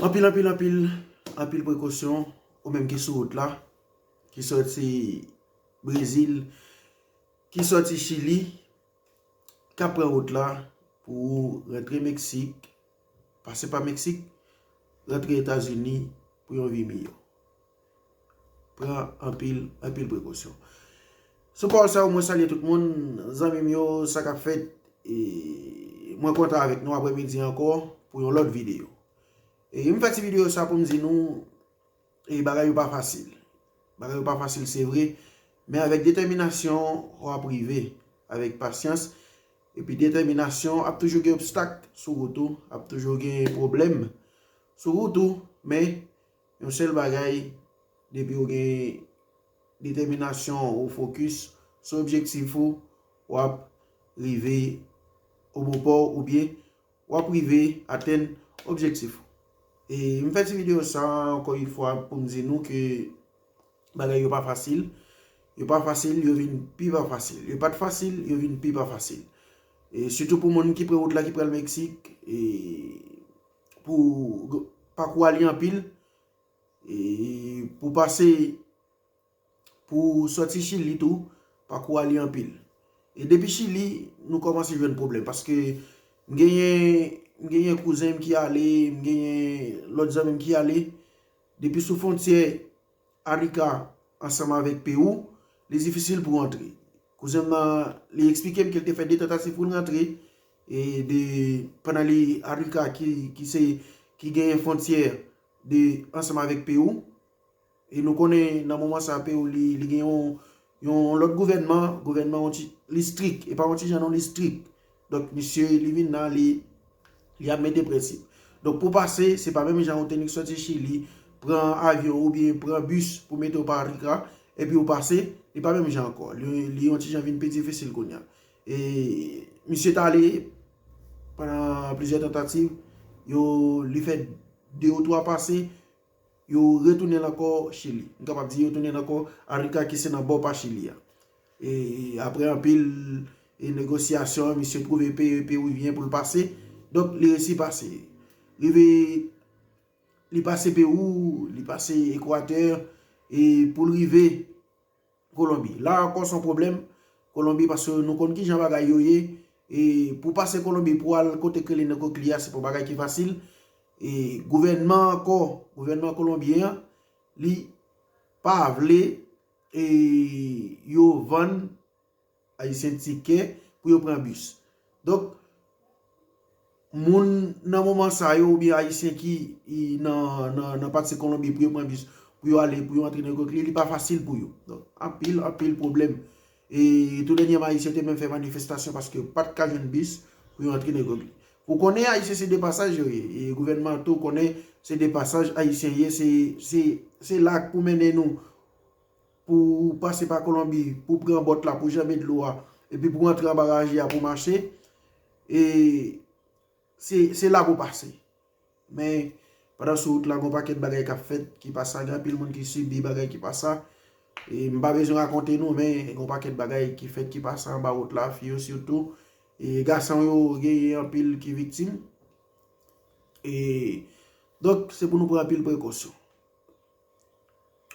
Anpil anpil anpil anpil prekosyon ou menm ki sou wout la, ki soti Brezil, ki soti Chili, kap pran wout la pou ou rentre Meksik, pase pa Meksik, rentre Etazini pou yon vi miyo. Pran anpil, anpil prekosyon. Sou pawòl sa yo mwen salye tout moun, zanmi m yo, sa k ap fèt. Mwen kontan avèk nou aprè midi ankò pou yon lòt videyo. E m fè ti videyo sa pou m di nou, e bagay yo pa fasil. Bagay yo pa fasil se vre, men avèk detèminasyon ou ap rive. Avèk pasyans, epi detèminasyon ap toujou gen obstak sou wout ou, ap toujou gen pwoblèm sou wout ou, men Yon sèl bagay, depi ou gen detèminasyon, ou fokis sou objektif ou, w ap rive o bon pò w oubyen w ap rive atenn objektif ou. E m fè ti videyo sa a ankò yon fwa pou m di nou ke bagay yo pa fasil, yo pa fasil, yo vin pi pa fasil. Yo pa t fasil, yo vin pi pa fasil. E sitou pou moun ki pre wout la ki pral Meksik. Pou pakou a li anpil. E pou pase pou soti chili tou pakou a li anpil. E depi chili nou komanse jwenn pwoblèm. Paske m genyen kouzen m ki ale, m genyen lòt zanmi m ki ale. Depi sou fontyè. Arika ansanm avèk Peru, li difisil pou rantre. Kouzen m nan, li eksplike m ke l te fè 2 tantativ pou l rantre, e de, pandan li, Arika ki, ki se, ki genyen fwontyè de, ansanm avèk Peru, e nou konnen nan moman sa Peru li, li gen yon, Yon lòt gouvènman, gouvènman yon ti, li strik, e pa yon ti jan non, li strik. Donk misye li vin la, li ap mete prensip. Donk pou pase, se pa menm jan ou te nik soti Chili, pran avyon oubyen pran bis pou mete ou pa RIKRA, epi ou pase, li pa menm jan ankò. Li yon ti jan vin pi difisil kounya. E misye t ale, pandan plizyè tantativ, yo li fè 2 ou 3 pase, Yo retounen l ankò Chili. M kapab di yo tounen l ankò Arica ki se nan bò pa Chili a. E apre anpil e negosyasyon, misye twouve peye Peruvyen pou l pase. Donk li resi pase. Rive li pase Perou, li pase Equateur e pou l rive. Kolonbi. La ankò son pwoblèm Kolonbi paske nou konn kijan bagay yo ye e pou pase Kolonbi pou al kote k rele Nokokli a se pa yon bagay ki fasil e gouvènman ankò, gouvènman kolonbyen an li pa vle e yo vann. Ayisyen tike pou yo pran bis. Donk, moun nan moman sa yo oubyen Ayisyen ki nan pati Kolonbi pou yo pran bis, pou yo ale, pou yo antre nan Gokli, li pa fasil pou yo. Donk, anpil, anpil pwoblèm. E tou dènyèman Ayisyen te menm fè manifestasyon paske yo pa t ka jwenn bis pou yo antre nan Gokli. Ou konnen Ayisyen se de pasaj yo ye. E gouvènman an tou konnen se de pasaj Ayisyen ye. Se la k pou mennen nou. Pou pase pa Kolonbi, pou pran bòt la, pou janbe dlo a, epi pou antre anba raje a pou mache, e se la pou pase. Men, pandan sou wout la, gon pakèt bagay kap fèt, ki pa sa, gen anpil moun ki sibi bagay ki pa sa. E m pa bezwen rakonte nou, men, gon pakèt bagay ki fèt ki pa sa anba wout la, fi yo sitou. E gason yo, gen yon anpil ki viktim. E, donk, se pou nou pran anpil prekosyon.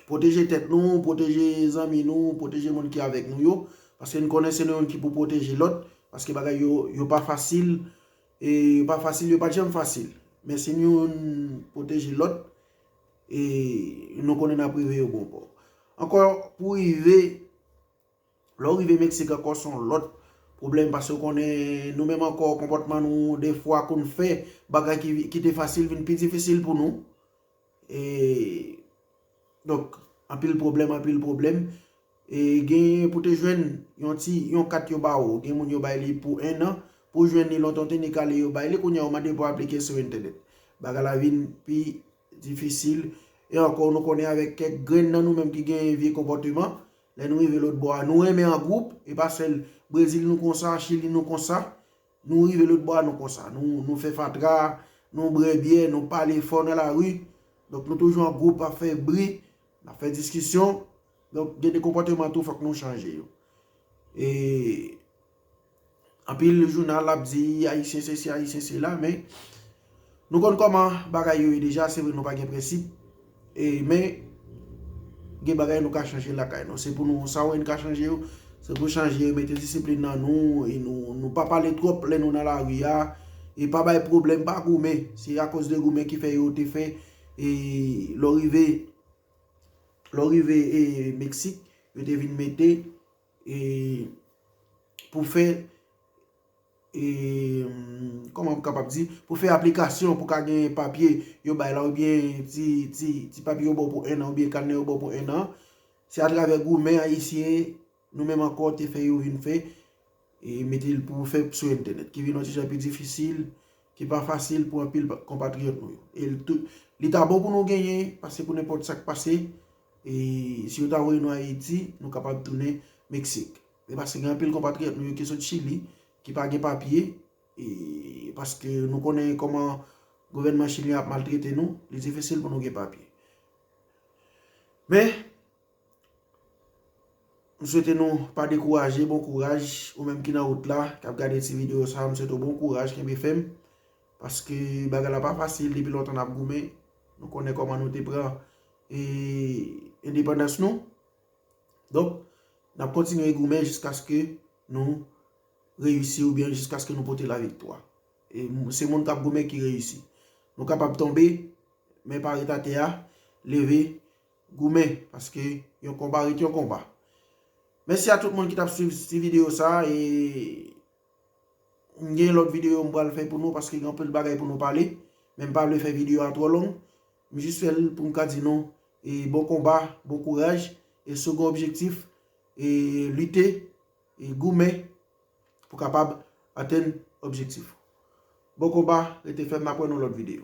Pwoteje tèt nou, pwoteje zanmi nou, pwoteje moun ki avèk nou yo. Paske n konnen se nou menm ki pou pwoteje lòt. Paske bagay yo, yo pa fasil. E yo pa fasil, yo pa janm fasil. Men si nou pwoteje lòt, e nou konnen n ap rive yo bon pò. Ankò pou rive Lè w rive Mexique ankò son lòt Pwoblèm pase w konnen nou menm ankò konpòtman nou defwa pou n fè bagay ki te fasil vin pi difisil pou nou e donk anpil pwoblèm anpil pwoblèm e genyen pou te jwenn yon ti yon kat yo ba ou gen moun yo bay li pou 1 an pou w jwenn li lontan w te nik ale yo bay li kounye a ou mande pou w aplike sou entènèt bagay la vin pi difisil e ankò nou konnen avèk kèk grenn nan nou menm ki genyen vye konpòteman Lè nou rive lotbò a, nou renmen an gwoup, e pa sèl Brezil nou konsa, Chili nou konsa. Nou rive lotbò a, nou konsa. Nou fè fatra, nou brè byè, nou pale fò nan lari. Donk nou toujou an gwoup ap fè bri, ap fè diskisyon. Donk gen de konpòteman tou fòk nou chanje yo. E Anpil jounal ap di ayisyen sesi ayisyen sela men nou konn koman bagay yo ye deja se vre nou pa gen prensip e men gen bagay nou ka chanje lakay nou se pou nou sa ou wè nou ka chanje yo se pou chanje mete disiplin nan nou e nou pa pale twòp lè nou nan lari a e pa bay pwoblèm pa goumen se akoz de goumen ki fè yo te fè e lè ou rive lè ou rive e meksik yo te vin mete E pou fè e kòman m kapab di, pou fè aplikasyon pou ka gen papye yo bay la oubyen ti papye yo ba w pou 1 an oubyen kanè yo ba w pou 1 an, se atravè goumen ayisyen nou menm ankò te fè yo vin fè e mete l pou fè sou entènèt ki vin yon ti jan pi difisil, ki pa fasil pou anpil konpatriyòt nou yo. Li ta bon pou nou genyen pase pou nenpòt sa k pase. E si yo ta voye nou Ayiti, nou kapab tounen Meksik. E paske gen anpil konpatriyòt nou yo ki sot Chili, ki pa gen papye, e paske nou konnen kòman gouvènman chilyen ap maltrete nou, li difisil pou nou gen papye. Men, m swete nou pa dekouraje, bon kouraj, ou menm ki nan wout la, k ap gade ti videyo sa, m swete ou bon kouraj, kenbe fèm, paske bagay la pa fasil, depi lontan n ap goumen, nou konnen kòman nou te pran e endepandans nou donk nap kontinye goumen jiskaske nou reyisi ou byen jiskaske nou pote la viktwa e se moun kap goumen ki reyisi nou kapab tonbe men pa ret atè a leve goumen paske yon konba ret yon konba mèsi a tout moun ki tap swiv ti video sa e m gen lòt video m pral fè pou nou paske gen anpil bagay pou nou pale men m pa vle fè video a twò long M jis fè l pou m ka di nou bon konba, bon kouraj e si w gen objektif lite, goumen pou kapab atenn objektif ou. Bon konba, rete fèm n ap wè nan lòt videyo.